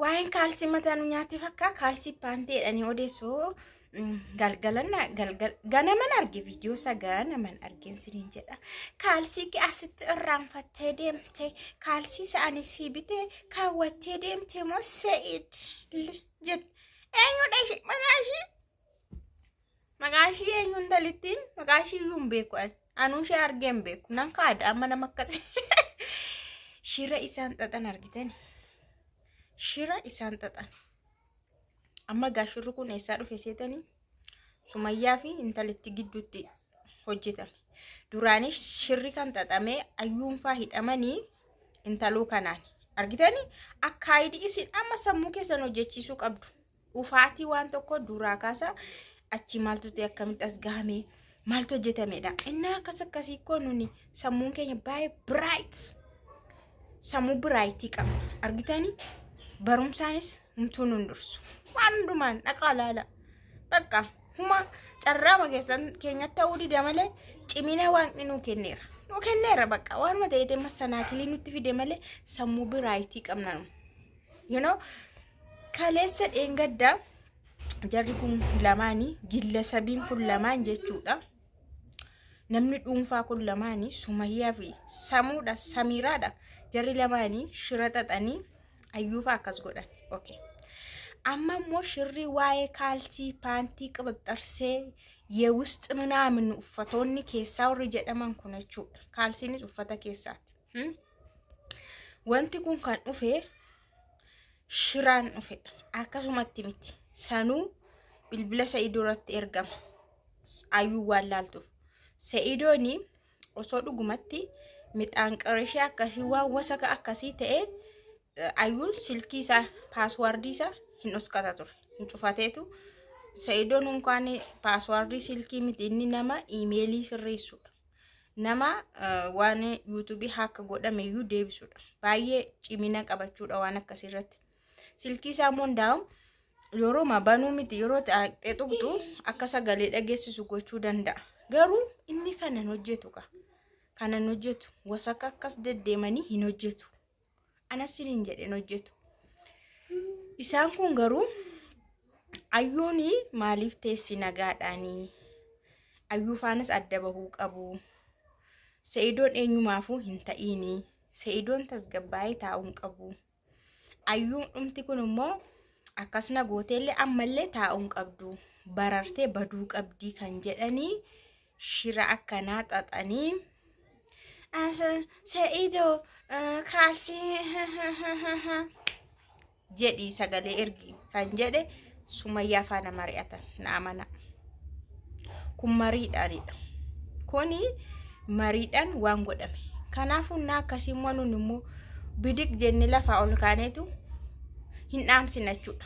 Waa'een kaalsii mataa nu nyaatee fakkaa kaalsii paantee jedhanii odeessoo galgalanna galgal ganaman arge viidiyoo isaa ganaman argeen siniin jedha kaalsii kee asitti irraanfattee deemte kaalsii isaanii sii bitee kaawwattee deemte moo se'id jette eenyudha ishee maqaa ishee Maqaa ishii eenyu intalittiin maqaa ishii iyyuu hin beeku ani. Anuu ishee argee hin beeku. Nan kaada amma nama akkasii. Shira isaan xaxan argitani. Shira isaan xaxan. Amma gaa shirri kun eessaa dhufe seetanii? Sumayyaa fi intalitti gidduutti hojjetame. Duraanii shirri kan xaxamee ayyuunfaa hidhamanii intaluu kanaan. Argitani? Akkaayidii isin amma sammuu keessan hojjechiisuu qabdu. Dhufaatii waan tokko duraa kaasa achi maaltu ta'e akkamitti as gahame maaltu hojjetamedha. Innaa akkas akkasii koo nuni sammuun keenya baay'ee biraayit sammuu biraayitii qabna argitanii barumsaanis humtuu nun dursu waan hundumaan dhaqaa laala bakka huma carraama keessan keenyatti ta'uu dida malee cimina waaqni nuu kenneera nuu kenneera bakka waanuma ta'eetee massanaakilii nutti fide malee sammuu biraayitii qabna nu you know kaleessa dheengaddaa jarri kun lamaanii gillasabiin kun lamaan jechuudha. Namni dhuunfaa kun lamaanii Sumayyaa fi Samuudha Samiiraadha. Jarri lamaanii shira xaxanii ayyuufaa akkas godhan. Okay. Amma immoo shirri waa'ee kaalsii paantii qabaxxarsee yeewusxi minaamin uffatoonni keessaa warri jedhaman kun jechuudha. Kaalsiinis uffata keessaati. Hmm? Wanti kun kan dhufe shiraan dhufedha. Akkasumatti miti. Sanuu bilbila Sa'idoo irratti ergama. Ayuu waan laaltuuf. Sa'idooni osoo dhugumatti midhaan qarishee akkasii waan wasaka akkasii ta'e ayuun silkii isaa paaswaardii isaa hin uskata ture. Hin cufateetu. Sa'idoon unkaan paaswaardii silkii miti inni nama iimeelii sirreessudha. nama waan yuutuubii haaka godhame iyyuu deebisuudha. Baay'ee cimina qabachuudha waan akkasii irratti. Silkii isaa immoo hundaa'u yeroo ma banuu miti yeroo ta'e tuqxu akka sagalee dhageessisu gochuu danda'a. Garuu inni kanan hojjetu ka kanan hojjetu wasaka akkas deddeemanii hin hojjetu. anas siniin jedheen hojjetu isaan kun garuu ayyuun maaliif teessi nagaadhaanii ayyuu faanas adda bahuu qabu se'idoon eenyumaafuu hin ta'iini se'idoon tasgabbaa'ee taa'uun qabu ayyuun dhumti kun immoo akkasna gooteellee ammallee taa'uun qabdu barartee baduu qabdii kan jedhanii shira akkanaa xaxanii sa'iido kaalsii jedhi sagalee ergi kan jedhe sumayyaa faana mari'atan na amana kun mariidhaanidha kuni mariidhaan waan godhame kanaafuu na akkasii immoo nun immoo bidiq jenne lafaa ol kaaneetu hin dhaamsina jechuudha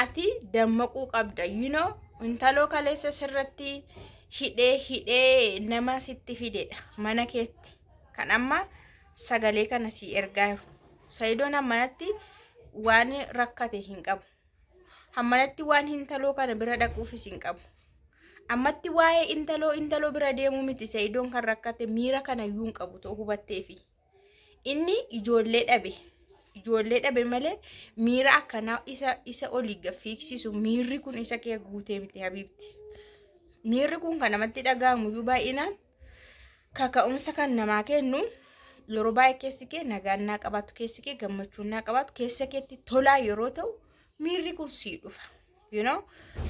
ati dammaquu qabda you know intaloo kaleessa sirratti hidhee hidhee nama sitti fidedha mana keetti kan amma sagalee kana sii ergaa jiru sayidoon hammanatti waan rakkate hin qabu hammanatti waan intaloo kana bira dhaquufis hin qabu ammatti waa'ee intaloo intaloo bira deemuu miti sayidoon kan rakkate miira kana iyyuu hin qabu too hubatteefi Inni ijoollee dhabe. Ijoollee dhabe malee miira akkanaa isa isa olii gaffiiksisu miirri kun isa kee guutee miti habiibti. Miirri kun kan namatti dhaga'amu iyyuu baay'inaan kaka'umsa kan namaa kennu yeroo baay'ee keessi kee nagaan naa qabaatu keessi kee gammachuun naa qabaatu keessa keetti tolaa yeroo ta'u miirri kun sii dhufa. You know?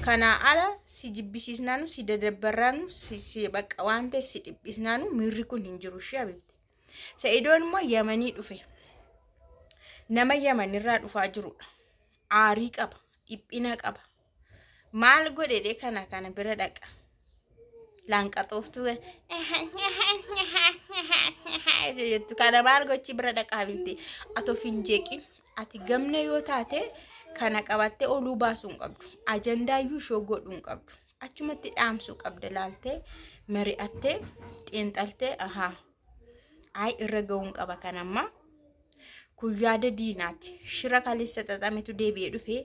Kanaa ala si jibbisiisnaanu si dadabbarraanu si si bakka waan ta'e si dhiphisnaanu miirri kun hin jiru ishee habiibti. Sa'idoon immoo Yamanii dhufe. Nama Yamanirraa dhufaa jirudha. Aarii qaba, dhiphina qaba. Maal godhedhe kana kana bira dhaqa. Laanqaxooftuu jettu kana maal gochi bira dhaqa habibti. Ati of hin jeeqin. Ati gamna yoo taate kana qabattee oluu baasuu hin qabdu. Ajandaayyuu ishoo godhuu hin qabdu. achumatti dhaamsuu qabda laaltee mari'attee xiinxaltee ahaa ayi irra ga'uun qaba kan ammaa kun yaada diinaati shira kaleessa xaxametu deebi'ee dhufe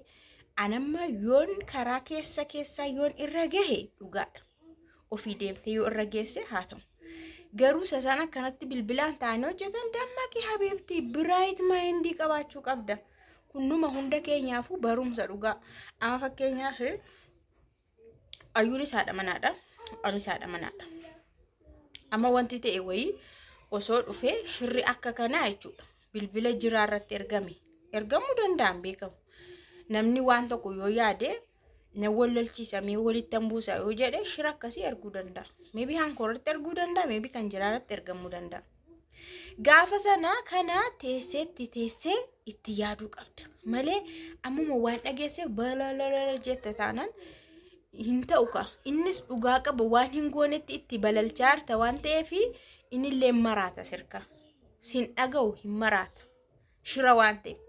anamma yoon karaa keessa keessaa yoon irra gahe dhugaadha ofii deemtee yoo irra geesse haa ta'u garuu isa sana kanatti bilbilaan ta'anii hojjetan dammaqi habiibti biraayit maayindii qabaachuu qabda kunnuma hunda keenyaafuu barumsa dhugaa amma fakkeenyaaf Ayyuunis haadha manaadha. Anis haadha manaadha. Amma wanti ta'e wayii osoo dhufee shirri akka kanaa jechuudha. Bilbila jiraa irratti ergame. Ergamuu danda'an beekamu. Namni waan tokko yoo yaade na wal lolchiisa mee walitti hin buusa yoo jedhe shira akkasii erguu danda'a. Meebii hankoo irratti erguu danda'a. Meebii kan jiraa irratti ergamuu danda'a. Gaafa sana kana teesseetti teessee itti yaaduu qabda. Malee ammuma waan dhageesse balalala jette taanaan hin ta'u ka. Innis dhugaa qaba waan hin goonetti itti balalchaa jirta waan ta'eef innillee maraata sirka. Sin dhaga'u hin maraata. Shira waan ta'eef.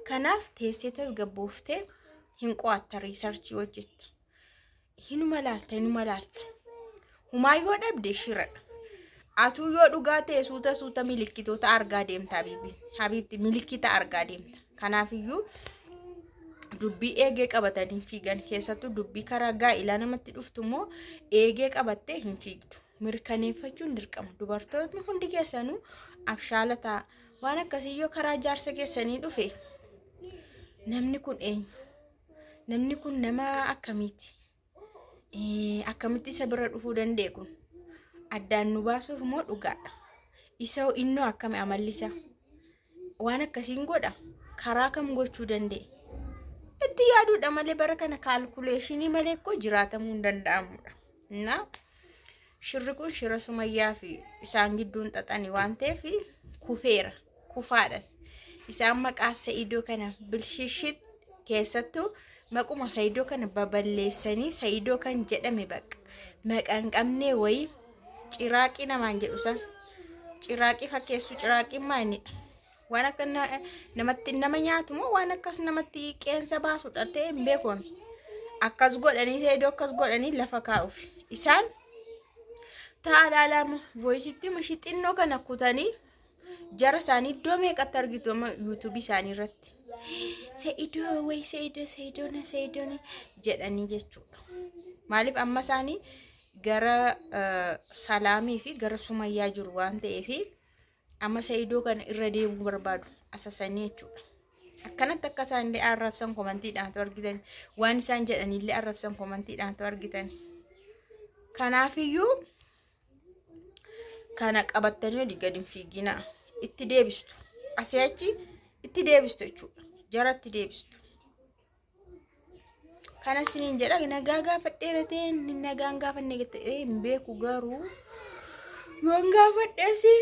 Kanaaf teessee tasgabbooftee hin qo'atta riisarchii hojjetta. hinuma laalta hinuma laalta humaa yoo dhabde shiradha atuu yoo dhugaa ta'e suuta suuta milikkitoota argaa deemta habiibi habiibti milikkita argaa deemta kanaafiyyuu dubbii eegee qabatanii fiigan keessattuu dubbii karaa gaa'ilaa namatti dhuftu immoo eegee qabattee hin fiigdu mirkaneeffachuun dirqama dubartootni hundi keessanuu abshaala ta'a waan akkasii yoo karaa jaarsa keessanii dhufe namni kun eenyu Namni kun nama akkamiiti? Eh, Akkamitti isa bira dhufuu danda'e kun? Addaan nu baasuuf moo dhugaadha? Isa hoo innoo akkami amalli isaa? Waan akkasiin godha? Karaa kam gochuu danda'e? Itti yaaduudha malee bara kana kaalkuleeshinii malee koo jiraatamuu hin danda'amudha. እና shirri kun shira sumayyaa fi isaan gidduun xaxani waan ta'eef kufeera kufaadhas isaan maqaa sa'idoo kana bilshishit keessattuu maquma sa'idoo kana baballeessanii sa'idoo kan jedhame bakka maqaan qabnee wayii ciraaqii namaan jedhu san ciraaqii fakkeessuu ciraaqiin maanidha Waan akka namatti nama nyaatu moo waan akkas namatti qeensa baasu dhaltee hin beekon. Akkas godhanii seedoo akkas godhanii lafa kaa'uuf. Isaan taalaa lama voisitti mashi xinnoo kana kutanii jara isaanii iddoo meeqatti argitu amma yuutuubii isaanii irratti. Seedoo wayi seedoo seedoona seedoona jedhanii jechuudha. Maaliif amma isaanii gara salaamii fi gara sumayyaa jiru waan ta'eefi. Amma Saidoo kana irra deemuu barbaadu asasanii jechuudha. Akkanatti akka isaan illee arrabsan komantiidhaantu argitan. Waan isaan jedhan illee arrabsan komantiidhaantu argitan. Kanaafiyyuu kana qabattanii olii gadi hin fiiginaa. Itti deebistu. Asii achi itti deebistu jechuudha. Jaratti deebistu. kana isiniin jedha nagaa gaafadhee ratee nagaan gaafanne ta'ee hin beeku garuu yoon gaafadheesi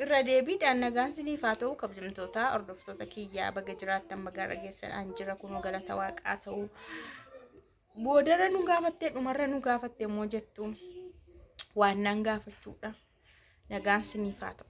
irra deebiidhaan nagaan isiniif haa ta'u kabajamtoota hordoftoota kiyyaa baga jiraattan baga dhageessan jira kunoo galata waaqaa ta'u boodarra nu gaafattee dhumarra nu gaafatte immoo jettu waan naan gaafachuudha nagaan isiniif haa ta'u.